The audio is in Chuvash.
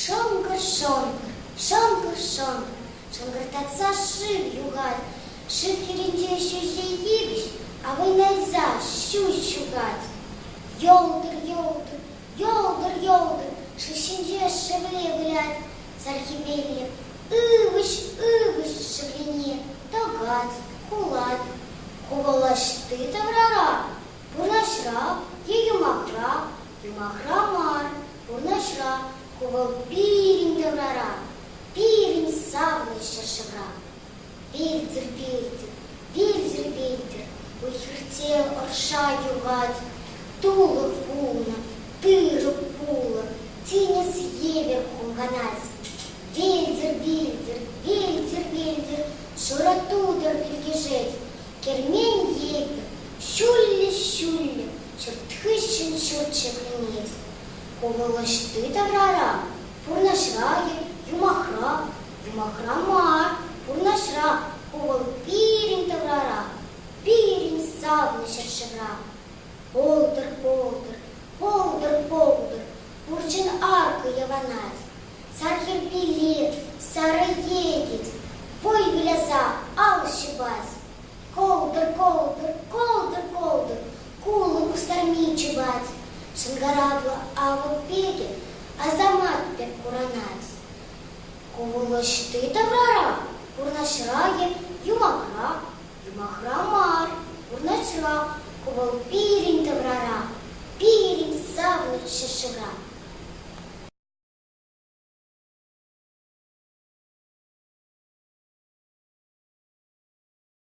Шӑнкӑр-шӑнкӑр, шӑнкӑр-шӑнкӑр, шӑнкӑртатса шыв юхать. Шыв хирӗнче ҫӳҫе йывӑҫ авӑйнайса ҫу ҫухать. Йӑлтӑр, йӑлтӑр, йӑлтӑр, йӑлтӑр, шыв ҫинче шевле вылять. Чӗлхепене ывӑҫ-ывӑҫ шӑпине тӑкать, кулать. Купӑлӑшти таврара пурнӑҫра е юмахра, юмахра мар, пурнӑҫра купӑл пирӗн таврара, пирӗн савнӑ ҫӗршывра. Витӗр, Петӗр, витӗр, Витӗр, уй-хирте ӑрша юхать, тулӑк пулнӑ, тырӑ пулӑ, тинӗс евӗр хумханать. Витӗр, Витӗр, Витӗр, Витӗр, шурӑ тутӑр пилкешет, кермен евӗр ҫуллӗ-ҫуллӗ ҫурт хыҫҫӑн ҫурт ҫӗкленет. Ку вӑл ӑҫти таврара, пурнӑҫра-и, юмахра, Юмахра мар, вырнаҫра, ку вӑл пирӗн таврара, пирӗн савнӑ ҫӗршывра. Полтӑр, полтӑр, полтӑр, полтӑр, пурччен аркӑ явӑнать. Сар хӗрпелет, сарӑ йӗтет, вӑй выляса ал ҫупать. Колтӑр, колтӑр, колтӑр, колтӑр, кулӑ кустарми чупать. Шӑнкӑравлӑ авӑк пекӗ асамат пек куранать. Ку вӑл ӑҫти таврара? Вырнаҫра-и, юмахра? Юмахра мар, вырнаҫра. Ку вӑл пирӗн таврара, пирӗн савнӑ ҫӗршывра.